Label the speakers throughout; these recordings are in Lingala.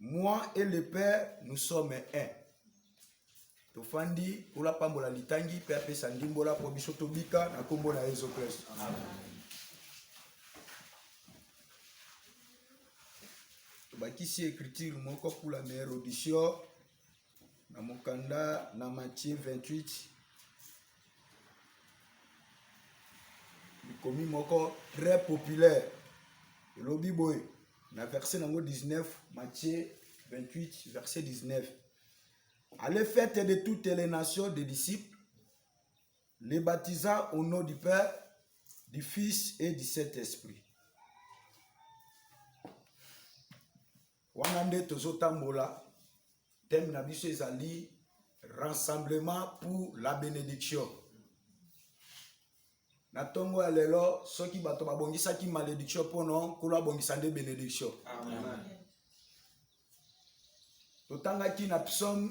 Speaker 1: moi et le père nous sommes un tofandi kola pambola litangi mpe apesa ndimbola mpo biso tobika na nkombo na yesu kristo tobakisi écriture moko pour la meilleure audition Na mokanda na Matthieu 28 likomi moko très populaire elobi boye na verset nango 19 Matthieu 28 verset 19 Allez faites de toutes les nations des disciples les baptisant au nom du Père du Fils et du Saint-Esprit Wana nde tozotambola teme na biso ezali rassemblement pour la benediction na ntongo ya lelo soki bato babongisaki malediction mpono nkolo abongisa nde benediction totangaki na psaume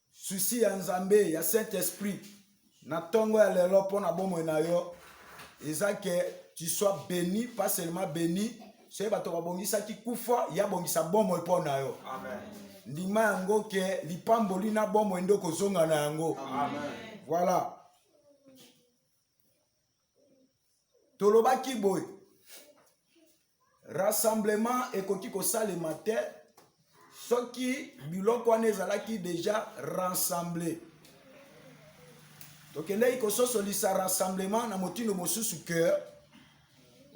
Speaker 1: Susi ya Nzambe ya Saint Esprit na tongo ya lelo mpo na bomoi na yo eza ke tu sois beni pas seulement beni soki bato babongisaki kufa ya bongisa bomoi mpo na yo ndima yango ke lipamboli na bomoi nde okozonga na yango voilà tolobaki boye rassemblement ekoki kosalema te soki biloko wana ezalaki deja rassemble tokendeki kososolisa rassemblement na motindo mosusu ke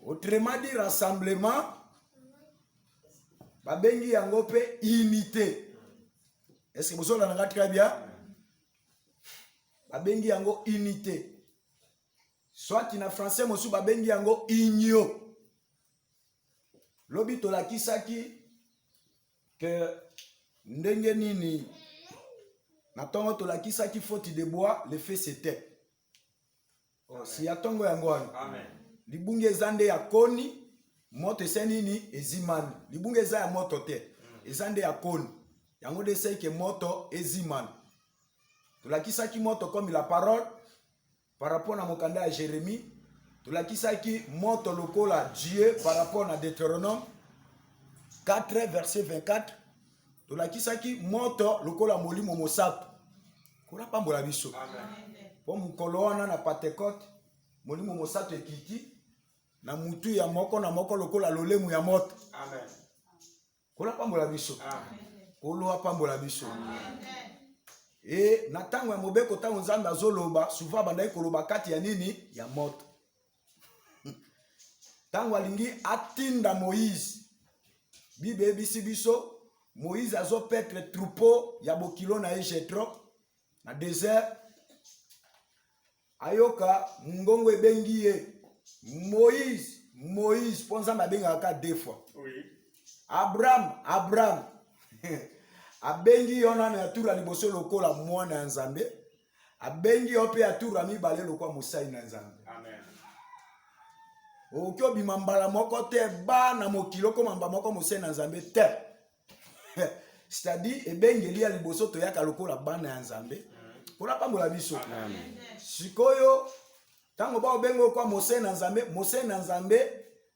Speaker 1: autrement dit rassemblement babengi yango mpe unité eske bozolana nga très bien babengi yango unité soit na français mosusu babengi yango union lobi tolakisaki ke ndenge nini na ntongo tolakisaki faute de bois le fait c'était oh, si ya ntongo yango wana libungi eza nde ya koni moto ese nini ezimani libungi eza ya moto te mm. eza nde ya koni yango nde esei ke moto ezimani tolakisaki moto comme la parole par rapport na mokanda ya jérémie tolakisaki moto lokola dieu par rapport na deutéronome 4 verset 24 tolakisaki moto lokola molimo mosato nkolo apambola biso mpo mokolo wana na pentecote molimo mosato ekiti na mutu ya moko na moko lokola lolemu ya moto nkolo apambola biso nkolo apambola biso e na ntango ya mobeko ntango nzambe azoloba souvent abandaki koloba kati ya nini ya moto ntango alingi atinda moïse bible eyebisi biso moïse azopetre troupeau ya bokilo na ye jetro na desert ayoka mongongo ebengi ye moïse moïse mpo nzambe abengaka ka de fois oui. abraham abraham abengi yonana ya tula liboso lokola mwana ya nzambe abengi yo mpe ya tour ya mibale lokwa mosali na nzambe
Speaker 2: okoki
Speaker 1: obima mbala moko te ba na mokili okoma mbala moko mosali na nzambe te c'est-à-dire ebengeli ya liboso toyaka lokola bana ya nzambe mpona apambola biso
Speaker 2: sikoyo
Speaker 1: ntango baobenga okwa mosali na nzambe mosali na nzambe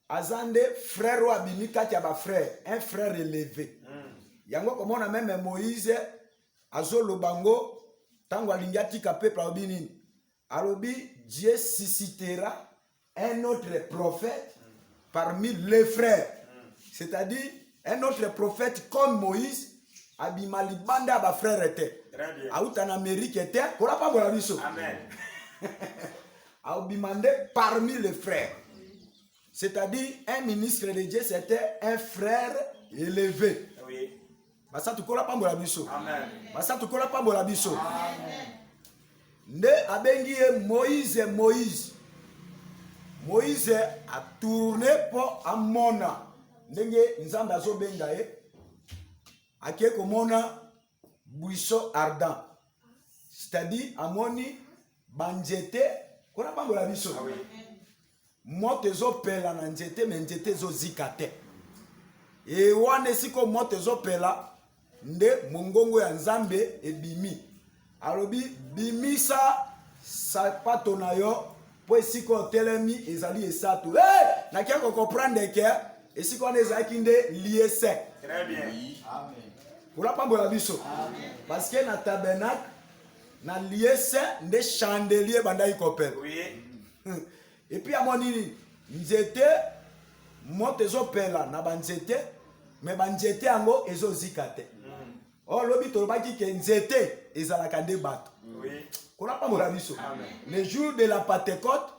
Speaker 1: aza nde frère oyo abimi kati ya bafrère un frère eleve hmm. yango komona meme moïse azoloba yango ntango alingi atika peuple alobi nini alobi dieu suscitera un autre prophète parmi les frères c'est-à-dire un autre prophète comme moïse abima libanda ya bafrere te auta na
Speaker 2: amerike te
Speaker 1: kolapambola biso
Speaker 2: abima
Speaker 1: nde parmi les frères c'est-à-dire un ministre de dieu c'était un frère élevé
Speaker 2: basatu kola
Speaker 1: pambola biso basatu
Speaker 2: kola pambola
Speaker 1: biso nde abengi ye moïse moïse moïse atourne mpo amona ndenge nzambe azobenga ye ake komona buisson ardent c'est-à-dire amoni banzete kola pambola biso ah
Speaker 2: moto
Speaker 1: ezopela na nzete me nzete ezozika te e wana esika moto ezopela nde mongongo ya nzambe ebimi alobi bimisa sapato na yo mpo esika otelemi ezali esato hey! nakia kokomprendre ke esika wana ezalaki nde liese kuna pambo ya biso parce que na tabernacle na liese nde chandelier ebandaki kopela oui. epuis amoni nini nzete moto ezopela na banzete me banzete yango ezozika te mm. o oh, lobi tolobaki ke nzete ezalaka nde bato kuna
Speaker 2: pambola biso
Speaker 1: le jour de la pentecote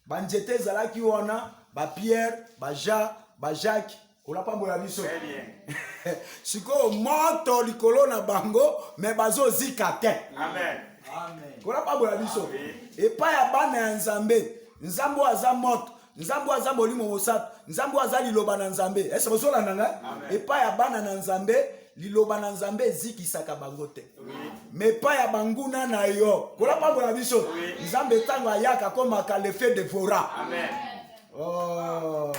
Speaker 1: banzete ezalaki wana bapierre bajean bajacques Ola pambola biso. Très bien.
Speaker 2: Sikoyo
Speaker 1: moto likolo na bango mais bazo zika te. Amen. Amen.
Speaker 2: Ola
Speaker 1: pambola biso. Epai ya bana ya Nzambe, Nzambe aza moto. nzambe aza molimo mosato nzambe aza liloba na nzambe ese bozolanda ngai epai ya bana na nzambe liloba na nzambe ezikisaka bango te me epai ya banguna na yo kolapambola biso nzambe ntango ayaka akomaka lefe devora Amen.
Speaker 2: oh.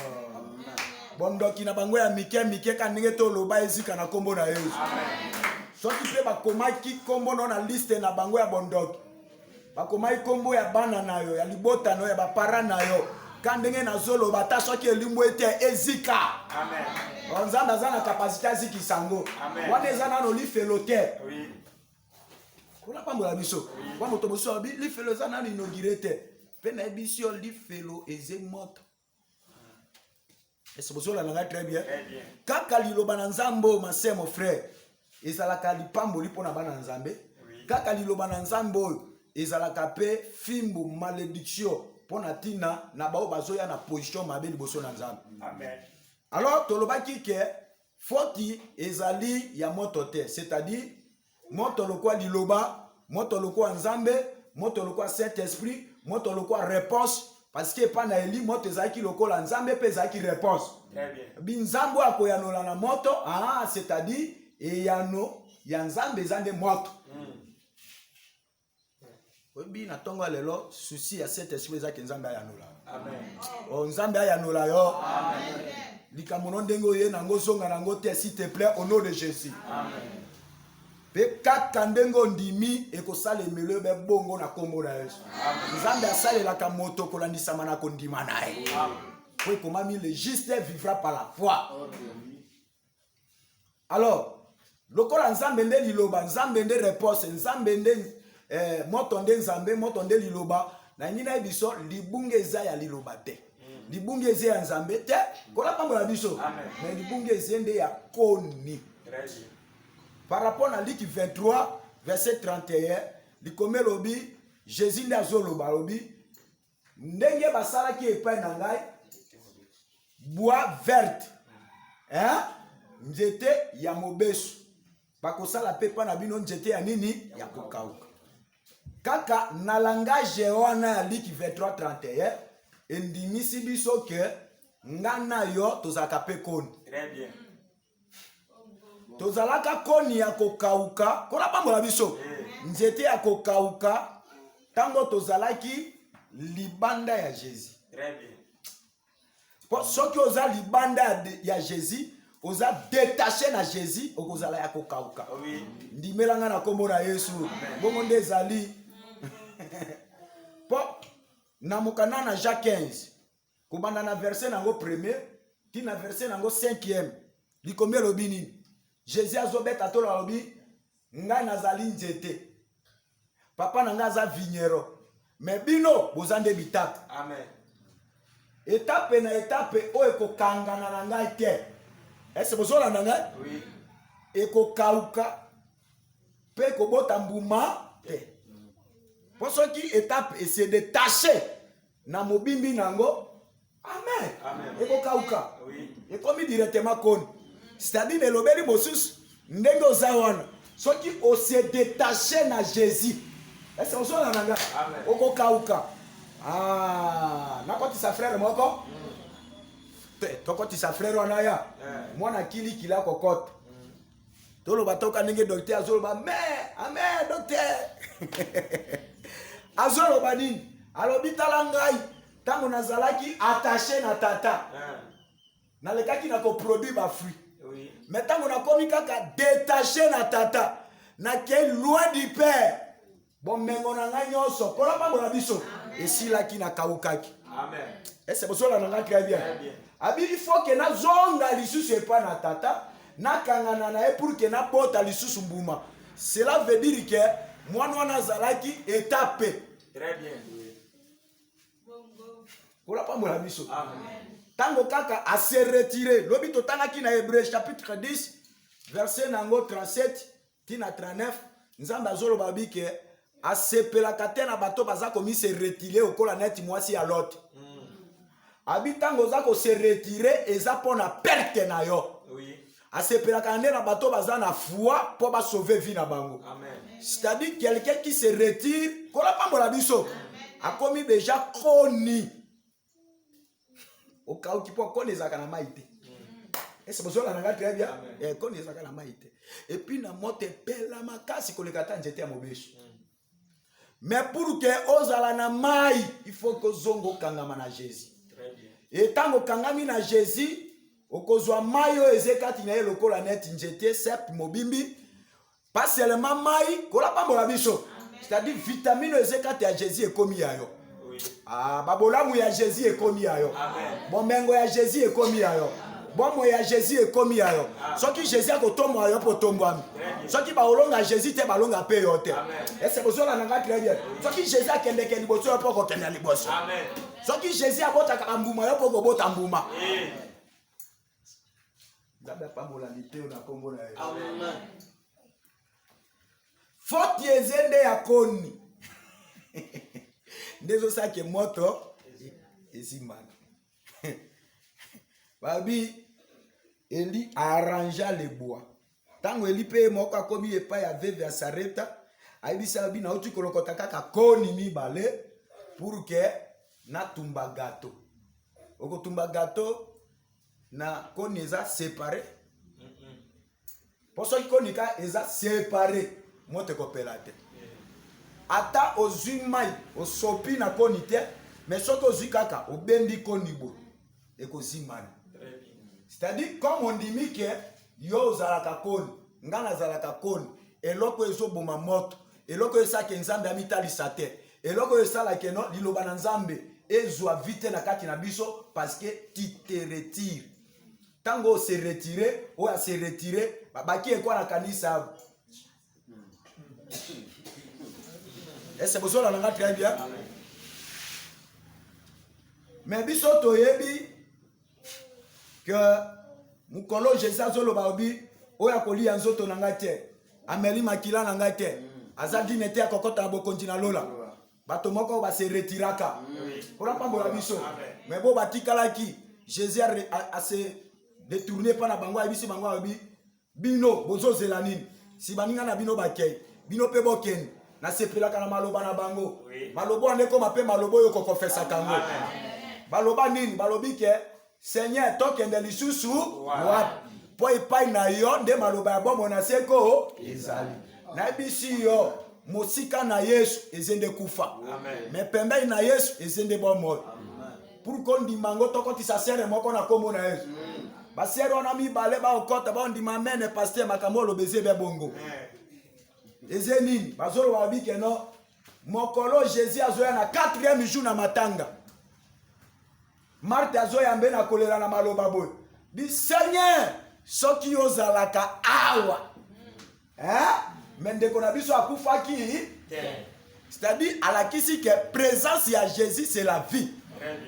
Speaker 1: bondoki na bango ya mike mike ka ndenge toloba ezika na nkombo na yesu
Speaker 2: soki mpe
Speaker 1: bakomaki nkombo no na liste na bango ya bondoki bakomaki nkombo ya bana na yo ya libota na yo ya bapara na yo ka ndenge nazoloba ata soki elimbo ete ezika
Speaker 2: nzambe aza na kapasite
Speaker 1: azikisa yango wana eza nano lifelo te oui. Kuna pambola biso. Wa moto mosusu alobi lifelo eza nanu inaugure te. Mpe nayebisi yo lifelo eze moto. Ese bozolanda ngai très bien. Kaka
Speaker 2: liloba na
Speaker 1: Nzambe oyo ma sœur mon frère ezalaka lipamboli mpo na bana Nzambe. Kaka liloba na Nzambe oyo ezalaka mpe fimbu malediction mpo na ntina na baoyo bazoya na position mabe liboso na Nzambe. Amen.
Speaker 2: Alors tolobaki
Speaker 1: ke Foti ezali ya moto te, c'est-à-dire moto lokola liloba, moto lokola Nzambe, moto lokola Saint-Esprit, moto lokola reponse parce que epai na eli moto ezalaki lokola nzambe mpe ezalaki reponse binzambe
Speaker 2: oyo akoyanola
Speaker 1: na moto ah, c'est-à-dire eyano ya nzambe eza nde moto mm. oyebi na ntongo ya lelo susi ya saint esprit ezaki nzambe ayanola o
Speaker 2: oh, nzambe
Speaker 1: ayanola yo
Speaker 2: likambo no
Speaker 1: ndenge oye nango ozonga nango te s'il te plaît au nom de jésus
Speaker 2: mpe
Speaker 1: kaka ndenge ondimi ekosala emelo ebe bongo na nkombo na yesu nzambe asalelaka moto kolandisama na kondima na ye mpo ekomami le juste vivra par la foi okay. alors lokola nzambe nde liloba nzambe nde reponse nzambe nde eh, moto nde nzambe moto nde liloba nalingi nayebi biso libunga eza ya liloba te mm. libunga eza ya nzambe te kola pambo na biso me libunga eza nde ya koni
Speaker 2: par rapport
Speaker 1: na liki 23 verset 31 likomi elobi jésus nde azoloba alobi ndenge basalaki epai na ngai bois verte eh? nzete ya mobesu bakosala mpe mpa na bino nzete ya nini ya kokauka kaka na langage wana ya liki 2331 endimisi biso ke nga na yo
Speaker 2: tozalaka
Speaker 1: mpe koni tozalaka koni ya kokauka nkolo apambola biso nzete ya kokauka ntango tozalaki libanda ya jésus
Speaker 2: mpo
Speaker 1: soki oza libanda ya, ya jésus oza detache na jésus okozala ya kokauka oh ndimela
Speaker 2: ngai na nkombo
Speaker 1: na yesu bongo nde ezali mpo na mokanda na jacques 15 kobanda na verse na yango premier ti na verse na yango cinquième likomi elobi nini jésus azobeta tolo alobi ngai nazali nzete papa na ngai aza vignero me bino boza nde bitape amen etape na etape oyo ekokangana na ngai te ese bozolanda ngai oui.
Speaker 2: ekokauka
Speaker 1: mpe ekobota mbuma te mpo soki etape ese detache na mobimbi na yango amen, amen. ekokauka ekomi
Speaker 2: directement
Speaker 1: koni c'est-à-dire elobeli mosusu ndenge oza wana soki ose detache na jésus ese ozona na nga okokauka ah, nakotisa frere moko mm. te tokotisa frere wana ya eh. mwana kilikila kokota toloba toka ndenge docteur azoloba amen amen docteur azoloba nini alobi tala ngai ntango nazalaki attache na tata ah. nalekaki na koproduire bafruit mais ntango
Speaker 2: nakomi
Speaker 1: kaka detache na tata nakei loin du père bomengo na ngai nyonso mpo na mpambo na biso esilaki na kaukaki ese
Speaker 2: bozola na
Speaker 1: ngai très bien abi il faut ke nazonga lisusu epa na tata nakangana na ye pour ke nabota lisusu mbuma cela veut dire ke mwana wana azalaki etape kola mpambo na biso ntango
Speaker 2: kaka
Speaker 1: ase retire lobi totangaki na hebreu chapitre 10 verset na yango 37 ti na 39 nzambe azoloba bi ke asepelaka te na bato baza komise retire okola neti mwasi ya lote mm. abi ntango oza kose retire eza mpo na perte na yo oui. asepelaka
Speaker 2: nde na
Speaker 1: bato baza na foi mpo basauve vie na bango c'est-à-dire
Speaker 2: quelqu'un
Speaker 1: qui se retire kola pambola biso akomi deja koni okauki mpo koni ezalaka na mai te ese bozola na ngai très bien eh, koni ezalaka na mai te epuis na moto epela makasi koleka ata nzete ya mobesu mais mm. pour ke ozala na mai il faut kozonga okangama na jésus
Speaker 2: etango okangami
Speaker 1: na jésus okozwa mai oyo eze kati na ye lokola neti nzete sepe mobimbi pas seulement mai kolapambola biso c'est-à-dire vitamine eza kati ya jésus ekomi ya yo ah,
Speaker 2: babolamu
Speaker 1: ya jésus ekomi ya yo bomengo ya
Speaker 2: jésus
Speaker 1: ekomi ya yo bomoi ya jésus ekomi ya yo soki jésus akotombola yo mpo otombwami soki baolonga jésus te balonga mpe yo te ese bozola na ngai très bien soki jésus akendeke liboso yo mpo okokenda liboso soki
Speaker 2: jésus
Speaker 1: abotaka bambuma yo mpo okobota mbuma nzambe apambola liteyo na nkombo na ye foti eze nde ya koni nde ezosake moto ezimbana babi eli arrangea le bois Ntango Eli mpe ye moko akomi epai ya veve ya Sareta, ayebisi abi nauti kolokota kaka koni mibale pour ke natumba gato. Okotumba gato na koni eza separe mpo soki koni ka eza separe moto ekopela te ata ozwi mai osopi na koni te me soki ozwi kaka obendi koni boye ekozimbana c'est-à-dire comme ondimi ke yo ozalaka koni ngai nazalaka koni eloko oyo ezoboma moto eloko oyo esalaka nzambe amitalisa te eloko oyo esalaka no liloba na nzambe ezwa vite na kati na biso parce que tu te retire ntango ose retire oyo ase retire babaki ekwana kanisa ese bozola na nga très bien mais biso toyebi ke mokolo jésus azoloba obi oyo akoliya nzoto na ngai te ameli makila na ngai te aza dine te akokota na bokonzi na lola bato moko base retiraka mpona mpambola biso mais bo batikalaki jésus ase détourne mpa na bango ayebisi bango alobi bino bozozela nini si baninga na bino bakei bino mpe bokende nasepelaka na maloba na bango maloba wana ekoma mpe maloba oyo kokofesaka yango baloba nini balobi ke seigneur tokende lisusu wapi mpo epai na yo nde maloba ya bomoi na seko ezali nayebisi yo mosika na yesu eze nde kufa me pembei na yesu eze nde bomoi pour kondima yango tokotisa sere moko na nkombo na yesu mm. basere wana mibale baokota baondima mene paster makambo oloba eze bya bongo eze nini bazoloba babi keno mokolo jésus azoya na 4e jour na matanga marte azoyambe na kolela na maloba boye bi seigneur soki ozalaka awa eh? me ndeko na biso akufaki c'est-à-dire alakisi ke présence ya jésus c'est la vie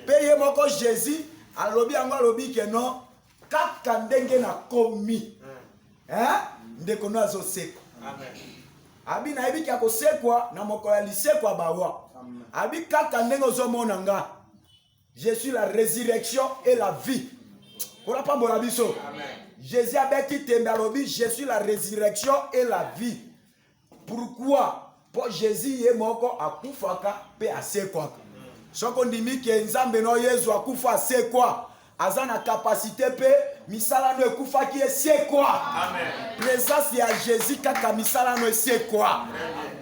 Speaker 1: mpe ye moko jésus alobi yango alobi ke non kaka ndenge nakomi hmm. eh? ndeko no azosekwa abi nayebi ke akosekwa na mokolo ya lisekwa bawa abi kaka ndenge ozomona nga Je suis la résurrection et la vie. Kuna pambola biso. Jésus abeti tembe alobi je suis la résurrection et la vie. Pourquoi? Po Jésus ye moko akufaka pe asekwaka. Soki ondimi ke Nzambe no Yesu akufa asekwa, aza na kapasite mpe misala no ekufaki esekwa. Presence ya Jésus kaka misala no esekwa. Amen.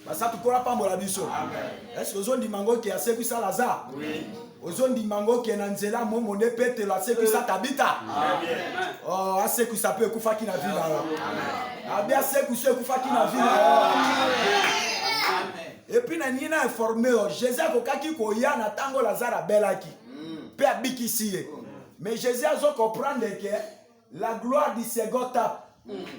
Speaker 1: basatu mpo apambola biso eske ozondima yango ke asekwisa lazare ozondima yango ke na nzela momo nde petelo asekwisa tabita oh, asekwisa mpe ekufaki na vila yo abi asekwisa ekufaki na vila yo epuis na nini na informe yo jésus akokaki koya na ntango lazare abelaki mpe mm. abikisi ye mais jésus azo comprendre ke La gloire du second tape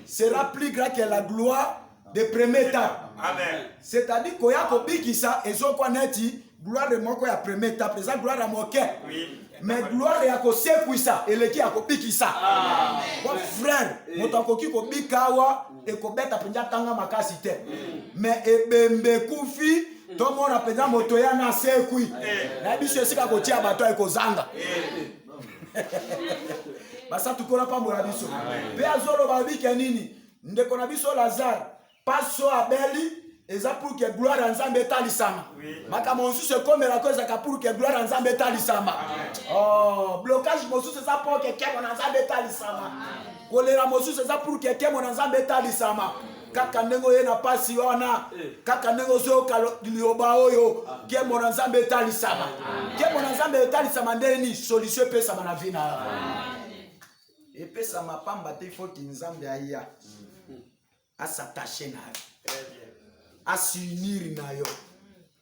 Speaker 1: sera plus grand que la gloire de premier tape. Amen. C'est-à-dire koya kobikisa ezokwa neti gloire moko ya premier tape eza gloire ya moke. Oui. me gloire ya kosekwisa eleki ya kobikisa po frere eh. moto akoki kobika awa ekobeta mpenza tanga makasi te mm. me ebembe ekufi tomona mpenza moto ya nasekwi eh. na biso esika kotia bato ekozanga eh. basatu kola pambola biso mpe azoloba obike nini ndeko na biso lazare paso abeli eza pour que gloire ya nzambe etalisama makambo mosusu ekomelako ezalaka pour que gloire ya nzambe etalisama oh, blocage mosusu eza pour que kemo na nzambe etalisama kolela mosusu eza pour que kemo na nzambe etalisama kaka ndenge oye na mpasi wana eh. kaka ndenge ozoyoka liloba oyo ah. nkembo na nzambe etalisama ah. nkembo na nzambe etalisama nde nini solution epesama na vi na yo ah. epesama pamba te foti nzambe aya hmm. asatache na yo eh asiunir na yo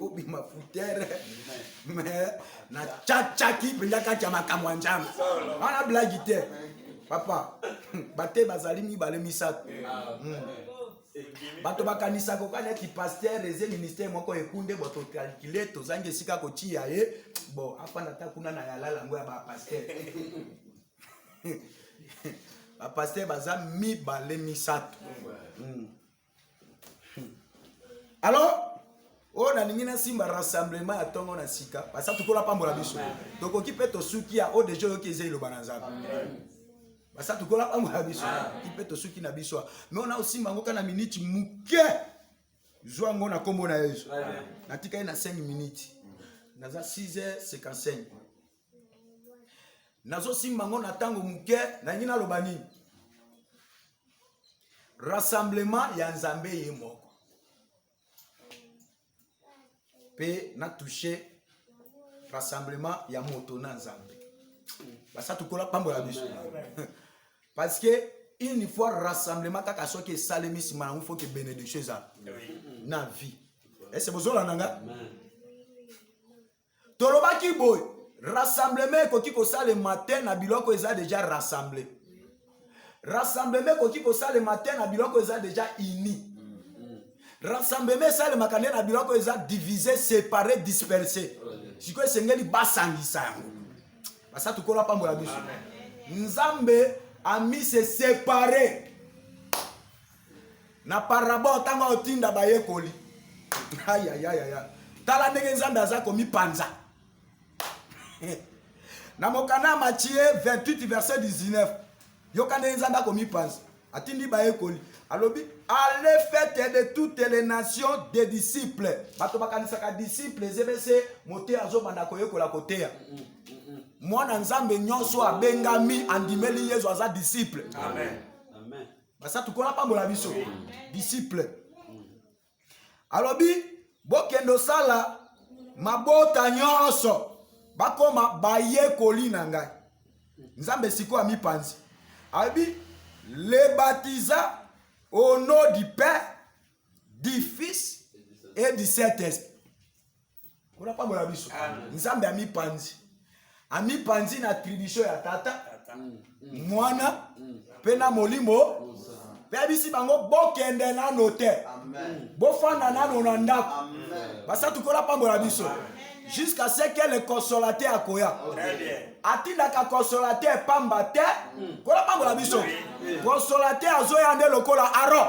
Speaker 1: obima futere me na cacaki mpenza kati ya makambo ya nzambe wana blagi te papa bate bazali mibale misato hmm. bato bakanisaka oka neti paster eze ministere moko ekunde bo tokalkile tozangi esika kotiya ye bo afanda ata kuna na yalala yango ya bapaster bapaster baza mibale misato mm. alors oyo oh, nalingi nasimba rassemblement ya ntongo na sika basa tokola pambola biso tokoki mpe tosuki ya oyo oh, deja oyoki eza eloba na nzambe basa tokola pambola biso ki mpe tosuki na biso me ona osimba yango kaka na miniti moke zwa yango na nkombo na yesu natikali na 5 miniti naza 6 h 55 nazosimba yango na ntango moke nalingi naloba nini rassemblement ya nzambe ye moko mpe natouche rassemblement ya moto na nzambe basatukola pambola biso parce que une fois rassemblement kaka soki esalemi nsima yango faut ke bénédiction ezala na vie ese bozolanda nga tolobaki boye rassemblement ekoki kosalema te na biloko eza deja rassemble rassemblement ekoki kosalema te na biloko eza deja uni rassemblement esalemaka nde na biloko eza divise separe disperse sikoyo esengeli basangisa yango basatu kolo apambola biso nzambe amise separe na parabole ntango aotinda bayekoli ayayayaya tala ndenge nzambe aza komipanza na mokanda ya matie 28 verset 19 yoka ndenge nzambe akomipanza atindi bayekoli alobi ale fete de toutes les nations des disciples bato bakanisaka disciple ezebese moteya azobanda koyekola koteya mwana nzambe nyonso abengami andimeli yezu aza disciple Amen.
Speaker 3: basatu nkolo apambola
Speaker 1: biso disciple alobi bokende osala mabota nyonso bakoma bayekoli na ngai nzambe sikoyo amipanzi alobi le baptisa au nom du père du fils et du saint esprit Kuna pambola biso. Nzambe amipanzi. Amipanzi na attribution ya tata, mm, mm. mwana mm. mpe na molimo mpe abisi bango bokende nano te
Speaker 2: bofanda nano
Speaker 1: na ndako basatu
Speaker 2: kola pambola
Speaker 1: biso jusqu'à ce que le consolateur akoya
Speaker 2: atindaka
Speaker 1: consolateur pamba te kola pambola biso consolateur azoya nde lokola aron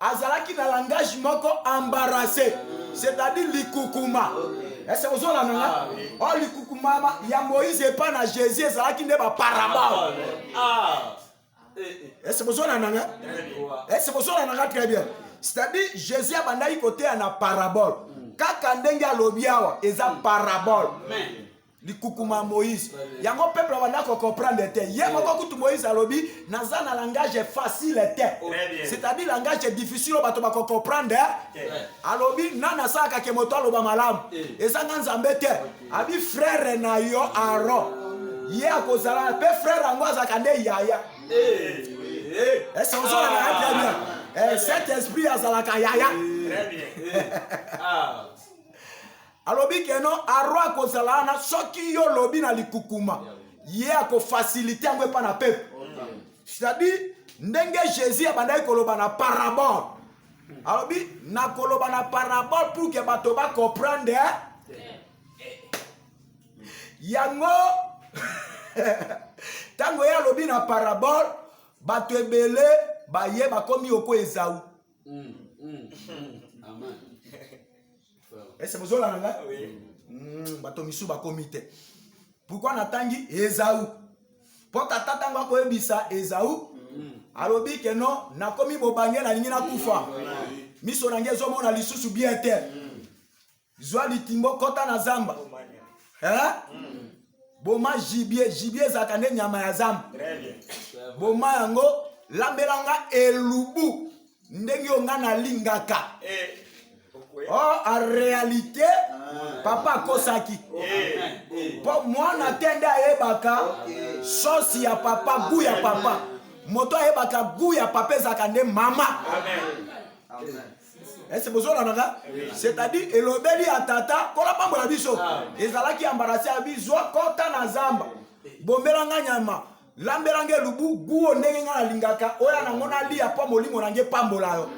Speaker 1: azalaki na langage moko embarrasse c'est-à-dire likukuma ese ozolanda nga ah, o oh, likukuma ya moïse epa na jésus ezalaki nde baparabole ah, ah. eh, eh. ese bozolanda nga ese bozolanda nga très bien c'est-à-dire jésus abandaki koteya na parabole kaka ndenge alobi awa eza parabole likukuma moïse yango peuple abanda kocomprendre te ye moko kutu moïse alobi naza na langage facile te c'est-à-dire langage difficile oyo bato bakocomprendre alobi na nasalaka ke moto aloba malamu ezanga nzambe te abi frere na yo aron ye akozala mpe frere yango azalaka nde yaya ese ozolaka ya très bien eh, cet esprit azalaka yaya Alobi que non, Aaron akozala wana soki yo lobi na likukuma. Ye akofasilite yango epa na pepe. C'est-à-dire, ndenge Jésus abandaki koloba na parabole. Alobi, nakoloba na parabole pour que bato ba comprendre. Yango, ntango ye alobi na parabole, bato ebele baye bakomi oko ezau. Mm, mm, mm.
Speaker 3: Amen.
Speaker 1: ese eh, bozola na ngai hmm, bato misu bakomi te pourkui natangi ezau mpo tata ntango akoyebisa ezau hmm. alobi ke no nakomi bobange nalingi nakufa hmm. miso na ngai ezomona lisusu bien te zwa litimbo kota na zamba eh? boma jibie jibie ezalaka nde nyama ya zamba
Speaker 2: boma yango
Speaker 1: lambelanga elubu ndenge yo nga nalingaka eh. oh, a réalité ah. papa akosaki mpo eh. mwana te nde ayebaka sosi ya papa gu ya papa moto ayebaka gu ya papa ezalaka nde mama
Speaker 2: ese
Speaker 1: bozolanaka c'est-à-dire elobeli ya tata kola mpambo na biso ah. ezalaki ambarasi ya bizwa kota na zamba bombela nga nyama lambela nge lubu guo ndenge nga nalingaka oya nango nalia mpo molimo na nge epambola yo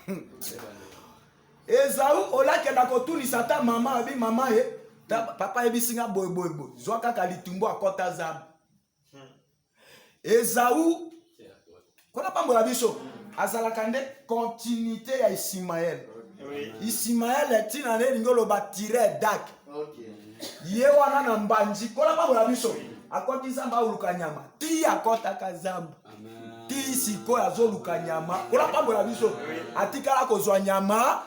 Speaker 1: hmm. ezau olakenda kotunisa ata mama abi mama ye papa ayebisi nga boyeboyeboy zwa kaka litumbu akɔta zamba hmm. ezau Kuna pambola biso azalaka nde continuité ya Isimael. Isimael ntina na elingi oloba tire dak ye wana na mbanji kola pambola biso akoti zamba aoluka nyama ti akotaka zamba ti sikoyo azoluka nyama kola pambola biso atikala kozwa nyama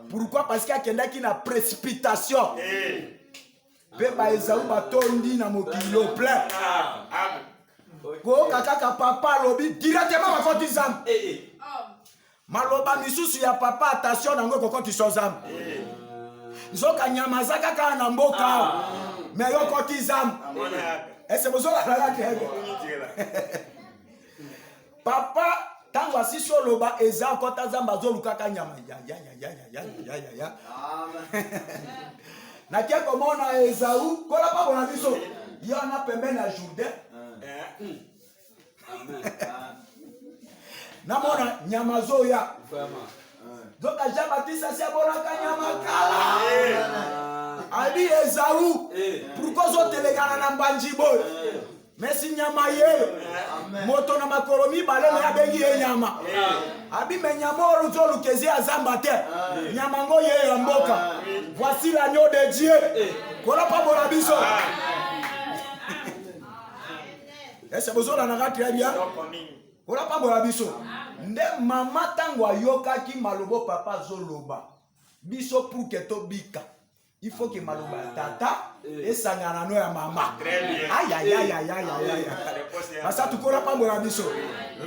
Speaker 1: pourquoi parce que akendaki na précipitation eh. mpe baezau batondi na mokili yo plein koyoka kaka papa alobi directement bakoti zambe eh, eh. maloba misusu ya papa attention na yango ekokotisa zambe eh. nzoka nyama aza kaka na mboka ah. me yo okoti zambe ese bozolakaka te papa ntango asisi oloba eza kota nzambe azolukaka nyama yayayayayayaya nake komona ezau kolapa bona biso ye wana pembeni ya jourdain namona nyama azoya nzoka jean batiste asi abolaka nyama kala abi ezau pourkoi ozotelekana na mbanji boyo mesi nyama ye moto na makolo mibale me abengi ye nyama abime nyama oyo luti olukezi ya zamba te nyama ngo ye ya mboka voici l'agneau de dieu kolopambola biso ese bozolanaka très bien kolopambola biso nde mama ntango ayokaki malobo papa azoloba biso puke tobika il faut que maloba ya tata eh. esangana na no ya mama ayayayayayaya eh. basa tukola pambola biso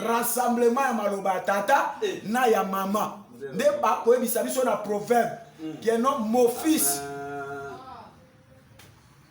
Speaker 1: rassemblement ya maloba ya tata eh. na ya mama nde bakoyebisa biso na proverbe mm. keno mofisi ah.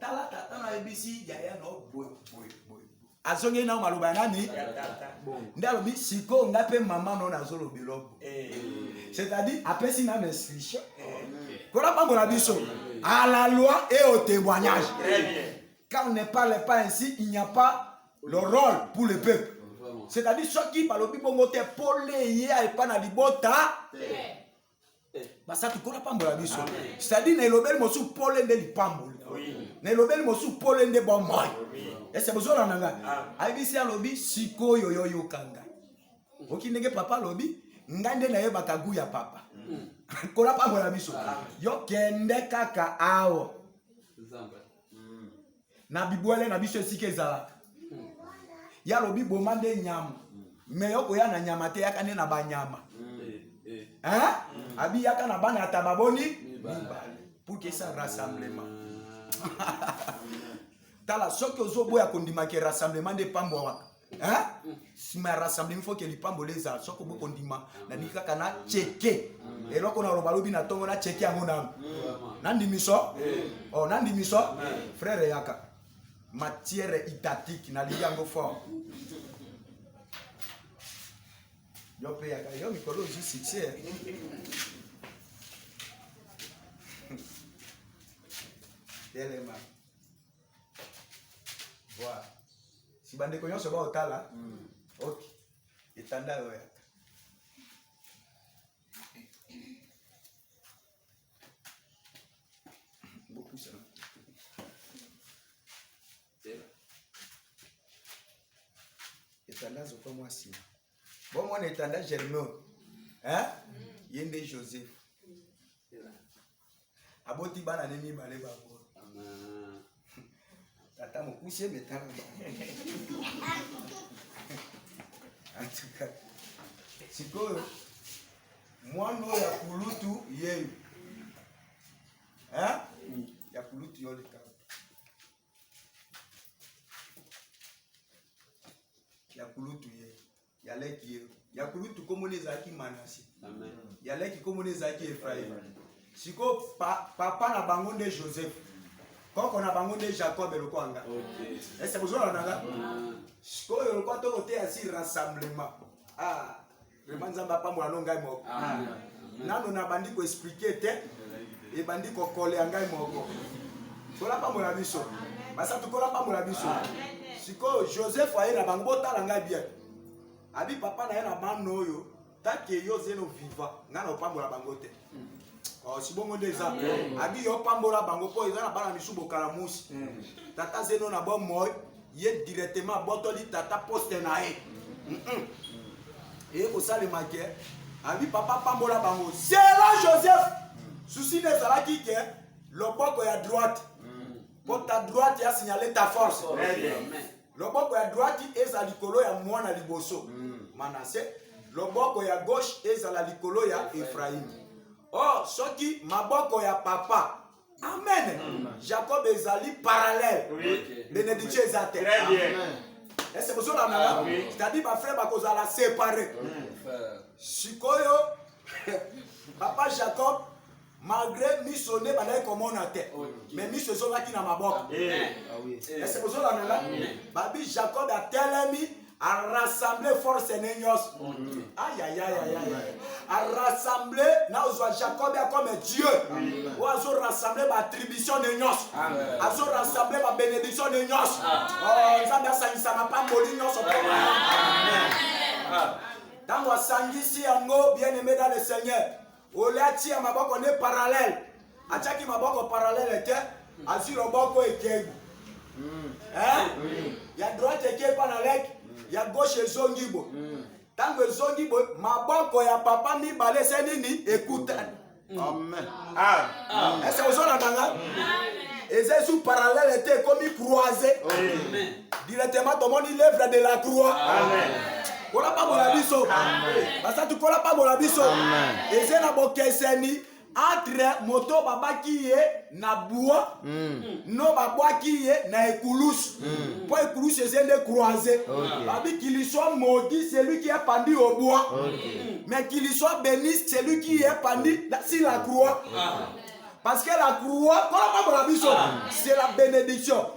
Speaker 1: tala tata na yebisi yaya na boye boye boye azongi nao maloba ya nani nde alobi sikoyo nga mpe mama no nazoloba eloko eh. c'est-à-dire apesi na na instruction mpona eh. bango na biso à la loi et au témoignage quand on ne parle pas ainsi il n'y a pas le rôle pour le peuple c'est-à-dire soki balobi bongo te pole ye epa na libota basatu nkolo apambola biso cetadire na elobeli mosusu pole nde lipamboli na elobeli mosusu pole nde bomoi ese bozola na ngai ayebisi alobi sikoyo yo yoka ngai oki ndenge papa alobi ngai nde nayebaka gu ya papa nkolo apambola biso yo kende kaka awa na bibwele na biso esika ezalaka ye alobi boma nde nyama me yo koya na nyama te yaka nde na banyama abi yaka na bana ata baboni mibale pour que ça rassemblement tala soki ozoboya kondima ke rassemblement nde pambwa waka nsima ya rassemblement foke lipamboli ezala soko bokondima nalingi kaka na cheke eloko naloba lobi na ntongo na cheke yango nanu nandimiso oh, nandimiso frere yaka matière idatique nalingi yango fort yo mpe yaka yo mikolo ozwi succès telema Voilà. Si bandeko nyonso baotala, mm. ok, etanda oyo yaka. Bopusa. Etanda zokwa mwa nsima. Bomona etanda germain. Hein? Mm. Ye nde Joseph. aboti bana ne mibale bango tata mokuse metala sikoyo mwana oyo ya kulutu yeyo ya kulutu yo likabo ya kulutu yeyo ya leki ye ya kulutu nkombo na ezalaki manase ya leki nkombo na ezalaki efraime sikoyo pa, papa na bango nde joseph koko na bango nde jacob lokola nga okay. ese bozolala na nga mm. sikoyo lokola tokoteya si rassemblement ah, vraimen nzambe apambola no ngai moko nano nabandi koexplike te ebandi kokolea ngai moko tola pambola biso basa tokola pambola biso sikoyo joseph aye na bango botala ngai bien abi papa na ye na bana oyo take yo zeno viva ngai na opambola bango te oh, si bongo nde eza abi yo opambola bango mpo eza na bana misu bokala musi tata zeno na bomoi ye directement abotoli tata poste na ye mm -mm. eye kosalema ke abi papa pambola bango zela joseph susi nde ezalaki ke loboko ya droite mpo ta droite ya signale ta force loboko ya droite eza likolo ya mwana liboso mm. manase loboko ya gauche ezala likolo ya efraime or oh, soki maboko ya papa Amen. Mm. Jacob ezali parallèle. Oui. Bénédiction eza te. Très bien.
Speaker 2: Est-ce que vous
Speaker 1: avez ah, oui. C'est-à-dire ma frère bakozala séparé. Sikoyo papa Jacob malgré miso nde bandaki komona te mais miso ezongaki na maboko est-ce que bozolanda nga babi jacob atelemi a rassembler force ne nyonso ayayayayaya a rassembler na ozwa jacob ya comme dieu oyo azo rassembler baattribution ne nyonso azo rassembler babénédiction ne nyonso oh, nzambe asangisa mapamboli nyonso mpona ntango asangisi yango bien aimé dans le seigneur ole atia maboko nde parallele atiaki maboko parallele te azwi loboko ekei ya droite ekei mpa na leki ya gauche ezongi bo ntango ezongi bo maboko ya papa mibale se nini ekutani ese ozolanda nga eza esu parallele te ekomi croise directement tomoni l'œuvre de la croix amen kolapambola biso basa tukolapambola biso eze na bokeseni entre moto babaki ye na bua mm. no babwaki ye na ekulusu mm. mpo ekulusu eze nde croise okay. babi qu'il soit maudit celui qui est pendu au bois okay. mais qu'il soit béni celui qui est pendu sur la croix okay. Ah. parce que la croix kolapambola biso ah. c'est la bénédiction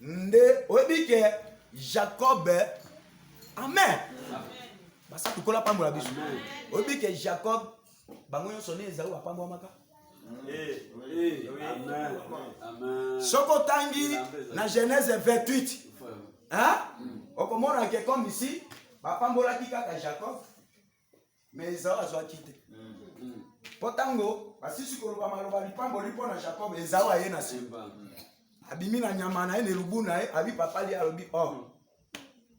Speaker 1: nde oyebi ke jacob amen basa tukola apambola biso oyebi ke jacob bango nyonso nde ezali bapambwamaka eh, eh, eh, soki otangi na genèse 28 okomona ke comme ici bapambolaki kaka jacob me ezau azwaki te mpo ntango basisi koloba maloba lipamboli mpo na jacob ezau aye na semba abimi na nyama na ye na elubu na ye abi papa li alobi o oh,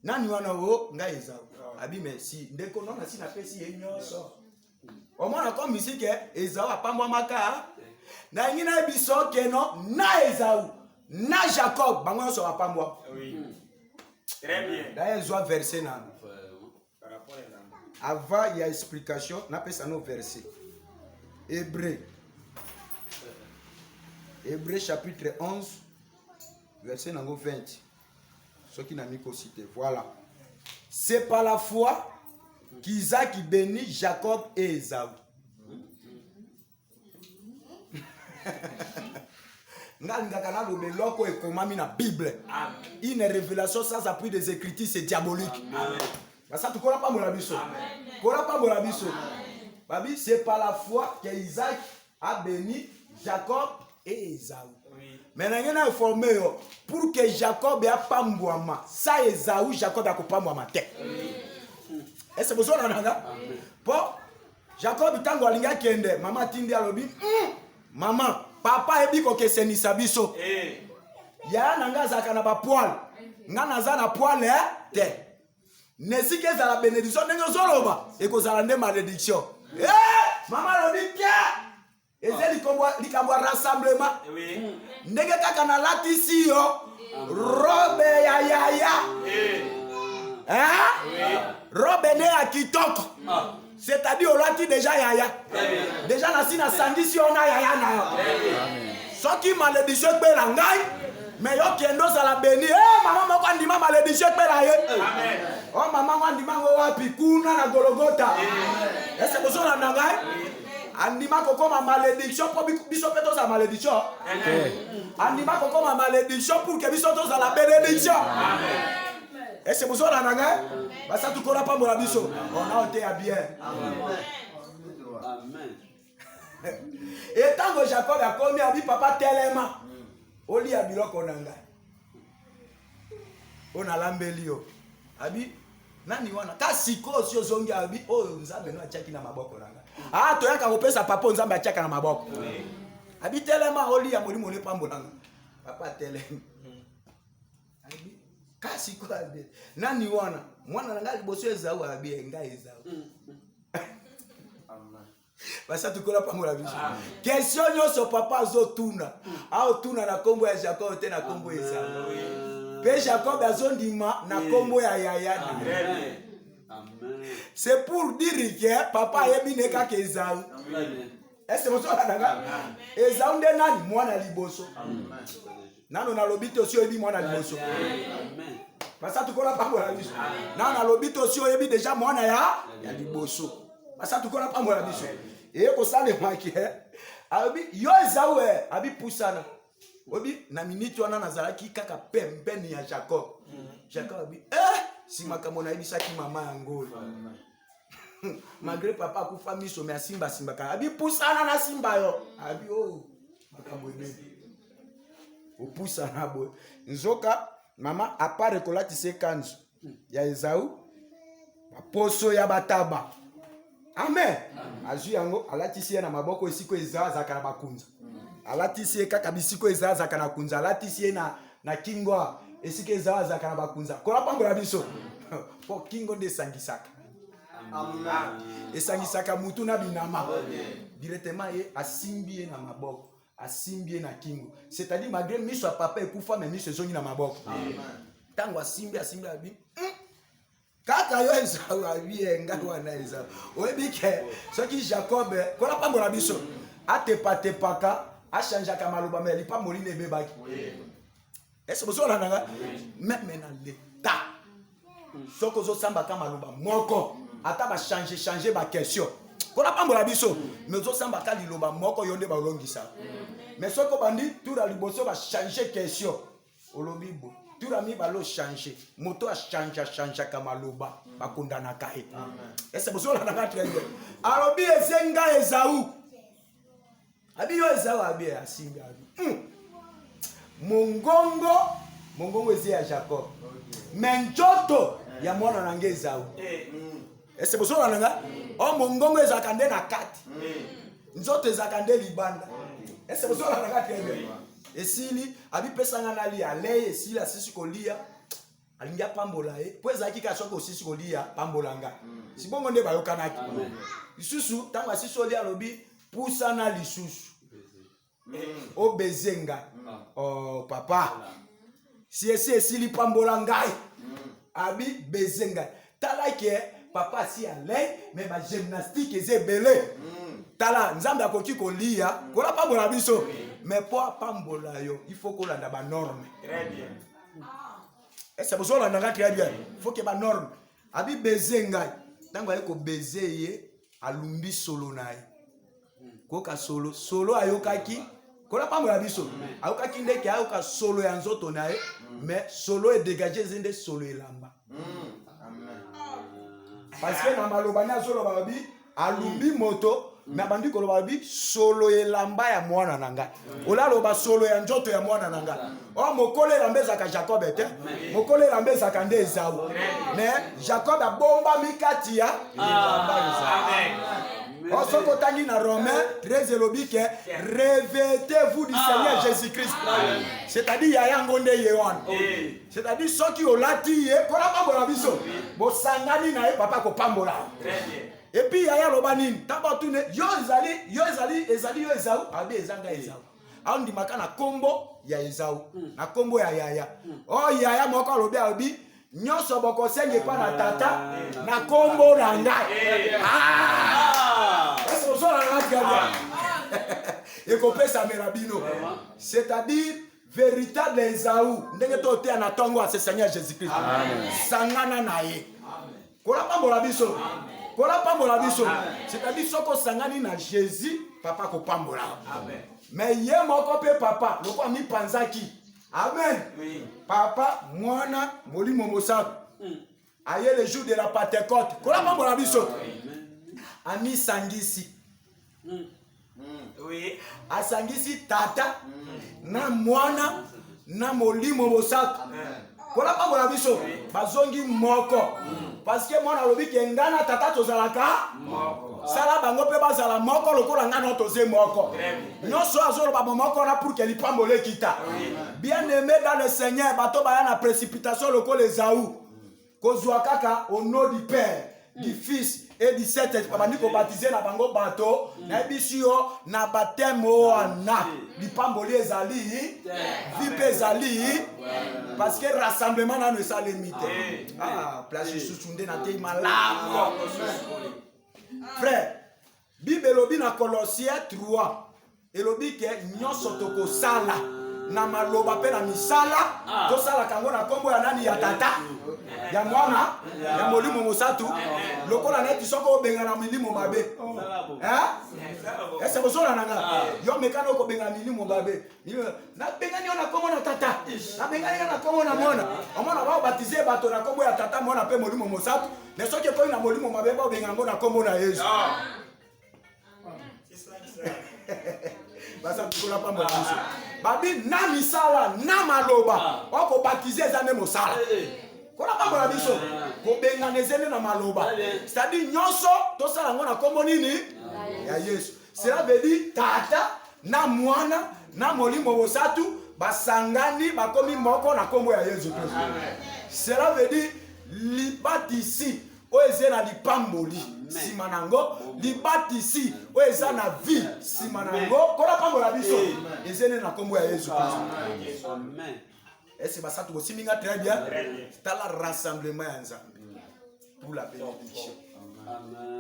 Speaker 1: nani wana o ngai ezau abi merci ndeko no nasi napesi ye nyonso omona ko misike ezau apambwamaka nalingi nayebi sokeno na ezau na jacob bango nyonso bapambwa daye ezwa verse nano Avant ya explication, na pesa no verset. Hébreu. Hébreu chapitre 11, verset nango 20. Soki na miko cité. Voilà. C'est par la foi qu'Isaac bénit Jacob et Esaü. nga alingaka naloba eloko ekomami na bible une révélation sans appui des écritures c'est diabolique basatu kola pambola biso kola pambola biso babi c'est par la foi que isaac a béni jacob et esaü me na ngai nainforme yo pour que jacob apambwama sa esaü jacob akopambwama te ese bozolanda nga mpo Jacob ntango alingi akende, mama atindi alobi mm, mama papa ayebi kokesenisa biso eh. yaya na ngai azalaka na bapoile ngai naza na poile eh? te na esika ezala benediction ndenge ozoloba ekozala nde malediction eh! mama alobi te eza likambo ya rassemblement eh ndenge kaka nalatisi yo robe ya yaya eh. Eh? robe ne ya kitoko ah. c'est-à-dire olati deja yaya deja nasi nasangisi yo na yaya na yo soki maledisio ekpela ngai me yo kende ozala beni e mama moko andima maledisio ekpela ye o oh, mama ngo andima ngo wapi kuna na gologota ese bozolanda ngai andima kokoma malediction mpo biso mpe tozala malediction andima kokoma malediction pour ke biso tozala benediction ese bozona na ngai basatu kona apambola biso ona oteya bien etango jacob akomi abi papa telema oliya biloko na ngai oyo nalambeli yo abi nani wana ta sikoyo si ozongi abi oyo nzambe no atiaki na maboko na nga a ah, toyaka kopesa papa oyo nzambe atiaka na maboko abi telema oliya molimo nepambolanga papa telema kasi kwabe nani wana mwana na ngai liboso ezau abi engai ezau mm, mm. basatu kola mpango na biso kesio nyonso papa azotuna aotuna na nkombo ya jakobo te na nkombo ezala mpe jakobo azondima na nkombo ya yaya
Speaker 2: c'est pour
Speaker 1: dire que papa ayebi ne kaka ezau ese mozolananga ezau nde nani mwana liboso Amen. nano nalobi te osi oyebi mwana liboso
Speaker 2: basatukola
Speaker 1: pambola biso nano nalobi te osi oyebi deja mwana ya ya liboso basatukola pambola biso eye kosalemaki eh? alobi yo ezawe eh? abi pusana obi na miniti wana nazalaki kaka pembeni ya jacob jacob abi eh si makambo nayebisaki mama yango oyo malgré papa akufa miso me asimba asimbaka abi pusana nasimba yo abi o oh, makambo ebele opusana boye nzoka mama apart ekolatisa ekanzu ya ezau baposo ya bataba amen azwi yango alatisi ye na maboko esiko eza azalaka na bakunza alatisi ye kaka bisiko eza azalaka na kunza alatisi ye na na kingo esika ezala azalaka na bakunza kola pambola biso mpo kingo nde esangisaka esangisaka mutu na binama directement ye asimbi ye na maboko asimbi ye na kingo c'est-à-dire malgré miso ya papa ekufa me miso ezongi na maboko ntango asimbi asimbi abi hmm? kaka yo ezawa bie ngai wana eza oyebi ke soki jacob kona pambola biso atepatepaka achangeaka maloba me lipamboli na ebebaki ese bozolanda nga meme na leta soki ozosambaka maloba moko ata bachange change baquestion kona pambola biso me ozosambaka liloba moko yo nde balongisa me soki obandi tura liboso bachange question olobi bo tura mibale ochange moto achange achangeaka maloba bakondanaka ye ese bozolanaka très bien alobi eze ngai ezau abi yo ezau abi asimbi abi hmm. mongongo mongongo eze ya jacob me njoto ya mwana na ngai ezau eh, hmm. ese bozola na nga o mongongo ezalaka nde na kati nzoto ezalaka nde libanda ese bozola na nga te esili abipesanga nalia lei esili asisi kolia alingi apambola ye mpo ezalaki kaka soki osisi kolia pambola nga hmm. sibongo nde bayokanaki lisusu ntango asisi olia alobi pusana lisusu obeze nga oh, papa siesi esili pambola ngai abi beze ngai tala ke papa asi alei me bagymnastique eza ebele tala nzambe akoki koliya kola pambola biso me mpo apambola yo ifo kolanda banorme ese bozolanda ngai très bien foke banorme abi beze ngai ntango aye kobeze ye alumbi solo na ye koyoka solo solo ayokaki kola mpango ya biso ayokaki nde ke ayoka solo ya nzoto na ye me mm. solo edegage eze nde solo elamba mm. parce que na maloba nde azoloba babi alumbi mm. moto nabandi koloba babi solo elamba ya mwana na ngai olaloba solo ya nzoto ya mwana na nga o oh, mokolo elamba ezalaka jacob te mokolo elamba ezalaka nde ezau me jacob abombami kati ya elamba ezau oh, soki otangi na romain 13 elobi ke revetez-vous du ah. seigneur jésus christ c'est-à-dire ya yango nde ye wana c'est-à-dire soki olati ye mpo na pambola biso bosangani na ye papa kopambola Et puis yaya loba nini? Tango atune yo ezali yo ezali ezali yo ezau abi ezanga eh. ezau. Andimaka na kombo ya ezau hmm. na kombo ya yaya. Hmm. Oh yaya moko alobi abi nyonso bokosenga epai na tata ah. na kombo na ngai. Eh. Ah! Est-ce que vous en avez ekopesa mela bino c'est-à-dire Veritable Ezau, ndenge to oteya na tongo ya sesani ya Jesus Christ. Sangana na ye. Kola pambola biso. Kola pambola biso. C'est-à-dire soko sangani na Jesus, papa ko pambola. Amen. Mais ye moko pe papa, loko ami panzaki. Amen. Oui. Papa, mwana, molimo mosato. Mm. aye le jour de la pentecote kolapa mpo na biso amisangisi hmm. oui. asangisi tata hmm. na mwana na molimo mosato kolapa mpo na biso bazongi moko hmm. parceke mwana alobi ke ngai na tata tozalaka sala bango mpe bazala moko lokola ngai no toze moko nyonso oyo azoloba bomoko wana pour ke lipamboli ekita bien aimé dans le seigneur bato baya na précipitation lokola ezau kozwa kaka au nom du père du fils et du saint esprit babandi kobatize na bango bato nayebisi yo na bateme wana lipamboli ezali vi mpe ezali parce que rassemblement nano esalemi te Ah, place lisusu nde natei malamu frère Bible elobi na Colossiens 3 elobi ke nyonso tokosala na maloba mpe na misala ah. tosalaka yango na nkombo ya nani ya tata ya mwana ya molimo mosatu lokola neti soki obengana milimo mabe ese kozolana nga ah. yo mekana okobengana milimo mabe nabengani yo na nkombo na tata nabengani yo na nkombo na mwana omona baobatize bato na nkombo ya tata mwana mpe molimo mosantu me soki ekomi na molimo mabe baobenga yango na nkombo na yesu basantikola pamba biso babi na misala na maloba ah. okobatize eza nde mosala eh, eh. kona pamba na biso ah. kobengana eze nde na maloba ah, eh. cetadire nyonso tosala yango na nkombo nini ya yesu Cela veut dire tata na mwana na molimo bosatu basangani bakomi moko na nkombo ya yesu kristo cela veut dire libatisi oyo eza na lipamboli nsima na yango libatisi oyo eza na vie nsima na yango mpo napambola biso ezene na nkombo ya yesu kristo ese basatu bosimbi nga très bien tala rassemblement ya nzambe pour la bénédiction.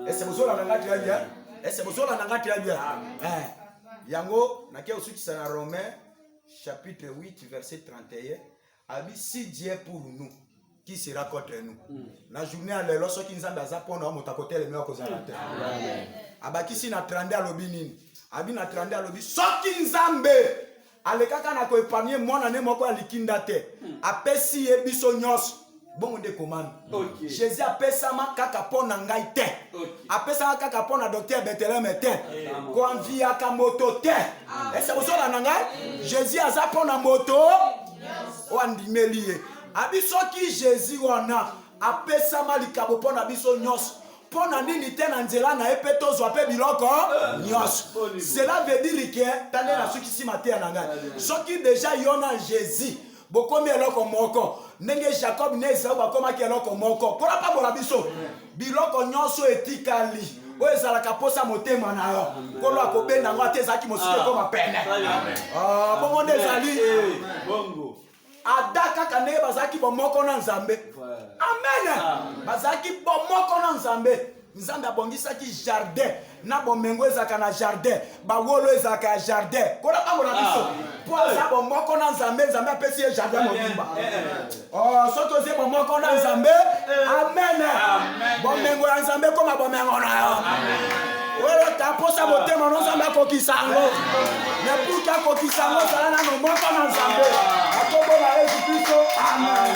Speaker 1: Est-ce que vous avez la très bien? Est-ce que vous avez la très bien? Eh. Yango, na kia osuki sana Romain chapitre 8 verset 31 abi si Dieu pour nous qui sera contre nous mm. na journée ya lelo soki nzambe aza mpo na yo moto akoteleme akozala te abakisi na 30 alobi nini abi na 30 alobi soki nzambe alekaka na ko epargne mwana ne moko ya likinda te hmm. apesi ye biso nyonso bongo nde ekomami okay. jésus apesama kaka mpo na ngai te okay. apesama kaka mpo na docteur beteleme te hey, koanviyaka moto te ah. ese kozola na ngai hmm. jésus aza mpo na moto oyo andimeli ye abi soki jésus wana apesama likabo mpo na biso nyonso mpo na nini te na nzela na ye mpe tozwa mpe biloko nyonso cela veut dire ke talela soki si mateya na ngai soki deja yo na jésus bokomi eloko moko ndenge jacob na esau bakomaki eloko moko mpo napambola biso biloko nyonso etikali oyo ezalaka mposa motema na yo nkolo akobenda yango ata ezalaki mosusu ekoma pene bongo nde ezali ada kaka ndenge bazalaki bomoko na nzambe amen bazalaki bomoko na nzambe nzambe abongisaki jardin na bomengo ezalaka na jardin bawolo ezalaka ya jardin kola bango na biso mpo ah. aza bomoko na nzambe nzambe apesi ye jardin mobimba eh, eh, eh. oh, soki ozie bomoko na nzambe amen bomengo ya nzambe ekoma bomengo na yo oyo taposa motema no nzambe akokisa yango na puki akokisa yango zala nano moko na nzambe akobola yesu kristo amen